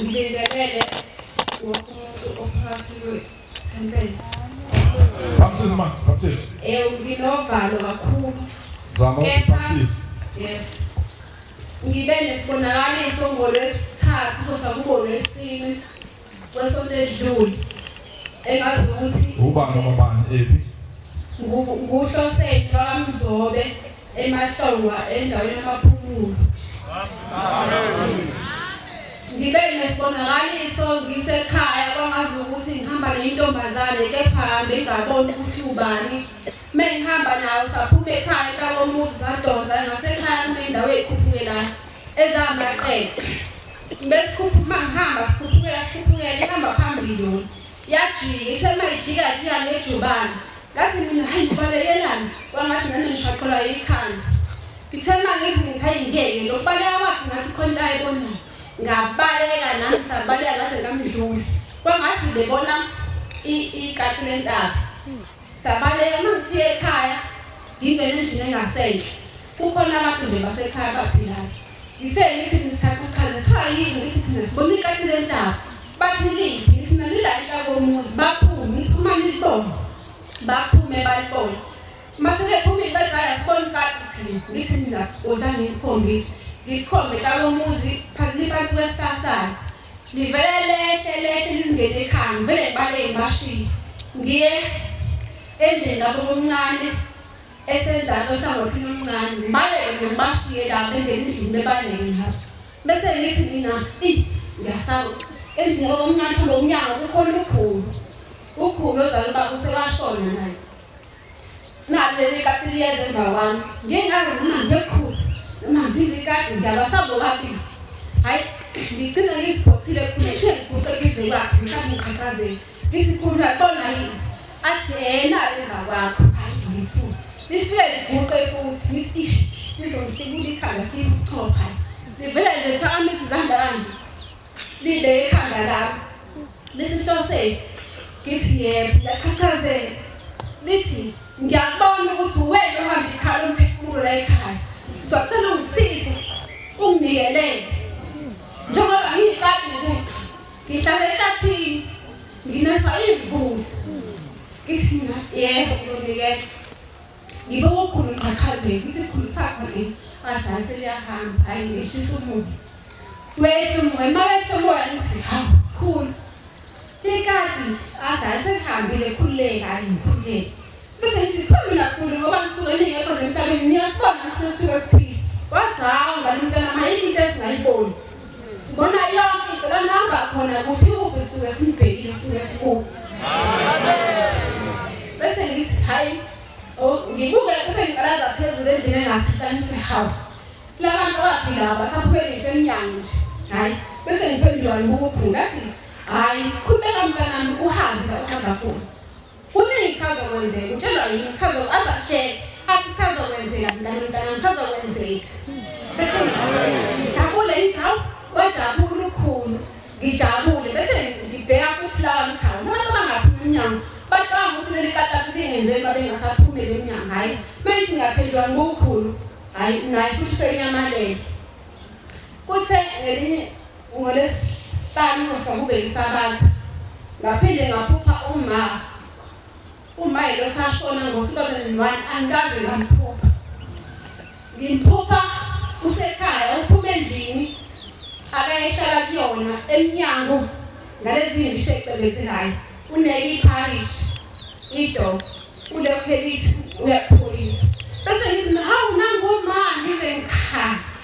Ngibingelele wonke umuntu ophakathi kwethempeli. Baptist man, Baptist. Eh nginovalo kakhulu. Zama Baptist. Yebo. Ngibe nesibonakaliso ngolwesithathu kusa kubonwe isini. Kwesonto edlule engazi ukuthi ubani ngobani ephi nguhloseni bakamzobe emahlongwa endaweni yamaphumulo ngibe nesibonakaliso ngisekhaya kwangazi ukuthi ngihamba neyintombazane kepha hambe ngaboni ukuthi ubani me ngihamba nayo saphuma ekhaya kakomuzi sadonsa ngasekhaya kunendawo eyikhuphukelayo ezamaqele Besikhuphuka ngihamba sikhuphukela sikhuphukela ihamba phambili yona. Yajika ithe uma ijika jika ngejubane. Ngathi mina hayi ngibalekelani kwangathi nami ngishaqelwa yikhanda. Ngithe uma ngithi ngithi hayi ngeke lokubaleka kwakhe ngathi khona into ayibonayo. Ngabaleka nami sabaleka ngaze ngamdlula. Kwangathi ngibona ikati lentaba. Sabaleka uma ngifike ekhaya ngingena endlini engasenhle. Kukhona abantu nje basekhaya abaphilayo. Ngifike ngithi ngisaqhuqhaza kuthiwa yini ngithi thina sibona ikati lentaba bathi liphi ngithi nalila inhla komuzi baphume ngithi uma nilibona baphume balibona mase bephumile bathi hayi asiboni ikati thina ngithi mina woza ngikukhombise ngikukhombe xa komuzi phakili phansi kwesisasana livele lehle lehle lizingene ekhanda vele ngibaleke ngibashiye ngiye endlini lapho omncane esenzansi ohlangothini oluncane ngibaleke nje ngibashiye la bengena endlini bebaleke ngihamba bese ngithi mina eyi ngiyasawu endlini yabo omncane phambi komnyango kukhona ukhulu ukhulu ozala ubaba usewashona naye nalo leli kati liyeza emva kwami ngingazi noma ngiyokhulu noma ngilikati ngiyabasabo kabili hhayi ngigcina ngiziphothile khulu ngithe ngiguqe ngize kwakhe ngisabe ngiqhaqhazela ngithi khulu uyabona yini athi yena emva kwakho hayi ngithu lifike liguqe futhi ngithi ish lizongifibula ikhanda libuchopha livele nje phakamisa izandla kanje libe ikhanda lami lithi hloseni ngithi yebo laqhaqhazela lithi ngiyakubona ukuthi uwena ohamba ikhala umphefumulo la ekhaya uzocela ungisize ungibikelele njengoba ngiyikati nje ngihlala ehlathini Nginatha imvula. Ngithi mina yebo ngiyonikela. Ngibe wokhulu qhaqhazela ukuthi khulisa khona. Athi hayi seliyahamba hayi ngehlisa umoya. Wehla umoya uma wehla umoya ngithi hamba khulu. Likati athi hayi selihambile khululeka hayi ngikhululeke. Bese ngithi phambili kakhulu ngoba ngisuke ningekho nje emhlabeni niyasibona ukuthi nisuke siphile. Wathi hawu ngani umntana mayini into esingayiboni. Sibona yonke into la nihamba khona kuphi kuphi sisuke simbhekile sisuke sikubi. Bese ngithi hayi oh, ngibuke bese ngiqalaza phezulu endlini engasita ngithi hawu labantu abaphila basaphuphe ngisho emnyango nje hayi bese ngiphendula ngibuka ubhunga athi hayi qhubeka mntanami uhambe la uhamba khona Kuningi kusazokwenzeka. Utshelwa yini kusazo aze ahleke athi kusazokwenzeka mntana mntana kusazokwenzeka. Bese ngijabule ngithi hawu wajabula ulukhulu ngijabule bese ngibheka ukuthi lawa ngithi hawu abantu abangaphumi emnyango bacabanga ukuthi leli katatu lingenzeni uma bengasaphumeli emnyango hhayi uma ngithi ngaphendulwa ngokukhulu hhayi naye futhi usenyamalele kuthe ngelinye NgoLwesihlanu nxusa kube yiSabatha ngaphinde ngaphupha uma uma elokhu ashona ngo-2001 angikaze ngamphupha ngimphupha usekhaya uphuma endlini akayehlala kuyona emnyango ngalezi ngisho ecelezelayo uneke iparish ido ulokhu elithi uyakupholisa bese ngithi hawu nangoma ngize ngikhala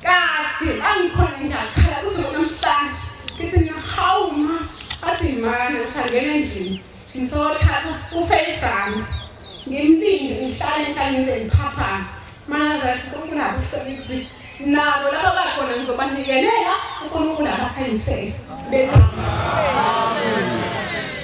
Kade angikhona ngiyakhala kuze kunamhlanje. Ngithi mina hawu ma athi mani usangena endlini. Ngisothatha ufaith rand. Ngimlinde ngihlale ngihlale ngize ngiphaphame. Manaza athi uNkulunkulu usebenzi nabo laba bakhona ngizobanikelela uNkulunkulu abakhanyisele. Amen.